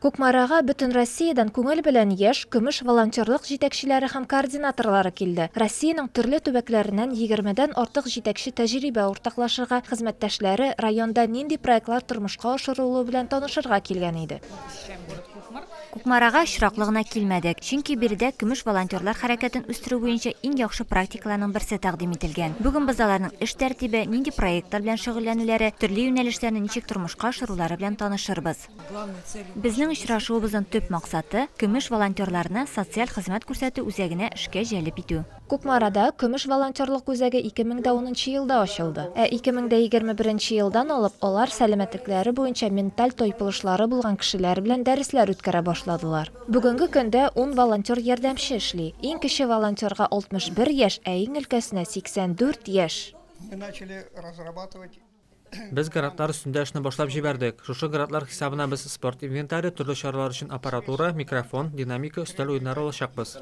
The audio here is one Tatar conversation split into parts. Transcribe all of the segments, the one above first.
Кукмарага Бөтенроссиядән күңел белән яшь, көмеш волонтерлык җитәкчеләре һәм координаторлары килде. Россиянең төрле төбәкләреннән егермедән артык җитәкче тәҗрибә уртаклашырга, хезмәттәшләре, районда нинди проектлар тормышка ашырылуы белән танышырга килгән иде. Кукмарага очраклы гына килмәдек, чөнки биредә көмеш волонтерлар хәрәкәтен үстерү буенча иң яхшы практикаларның берсе тәкъдим ителгән. Бүген без аларның эш тәртибе, нинди проектлар белән шөгыльләнүләре, төрле юнәлешләрне ничек тормышка ашырулары белән танышырбыз. Безнең очрашуыбызның төп максаты, Көмеш волонтерларны социаль хезмәт күрсәтү үзәгенә эшкә җәлеп итү. Кукмарада Көмеш волонтерлык үзәге 2010 нчы елда ачылды. Ә 2021 нче елдан алып алар сәламәтлекләре буенча менталь тайпылышлары булган кешеләр белән дәресләр үткәрә башладылар. Бүгенге көндә ун волонтер-ярдәмче эшли. Иң кече волонтерга 61 яшь, ә иң өлкәсенә, 84 яшь. Без грантлар өстендә эшне башлап җибәрдек. Шушы грантлар хисабына без спорт инвентаре, төрле чаралар өчен аппаратура, микрофон, динамика, өстәл уеннары алачакбыз.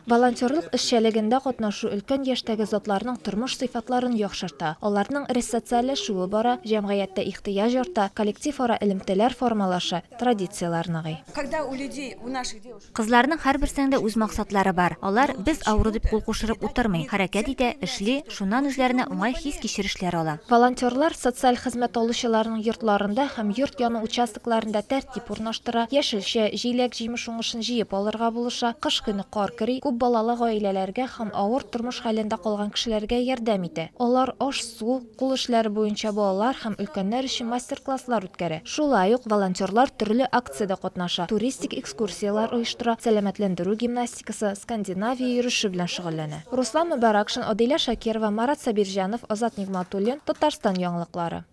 Волонтерлык эшчәлегендә катнашу өлкән яшьтәге затларның тормыш сыйфатларын яхшырта, аларның ресоциальләшүе бара, җәмгыятьтә ихтыяҗ арта, коллективара элемтәләр формалаша, традицияләр ныгый. Кызларның һәрберсенең дә үз максатлары бар. Алар без авыру дип кул кушырып утырмый, хәрәкәт итә, эшли, шуннан үзләренә уңай хис-кичерешләр ала. Волонтерлар социаль хезмәт алучыларның йортларында һәм йорт яны участокларында тәртип урнаштыра, яшелчә, җиләк-җимеш уңышын җыеп алырга булыша, кыш көне кар көри, күп балалы гаиләләргә һәм авыр тормыш хәлендә калган кешеләргә ярдәм итә. Алар аш-су, кул эшләре буенча балалар һәм өлкәннәр өчен мастер-класслар үткәрә. Шулай ук волонтерлар төрле акциядә катнаша, туристик экскурсияләр оештыра, сәламәтләндерү гимнастикасы, Скандинавия йөреше белән шөгыльләнә. Руслан Мөбаракшин, Адилә Шакирова, Марат Сабирҗанов, Азат Нигъматуллин, Татарстан яңалыклары.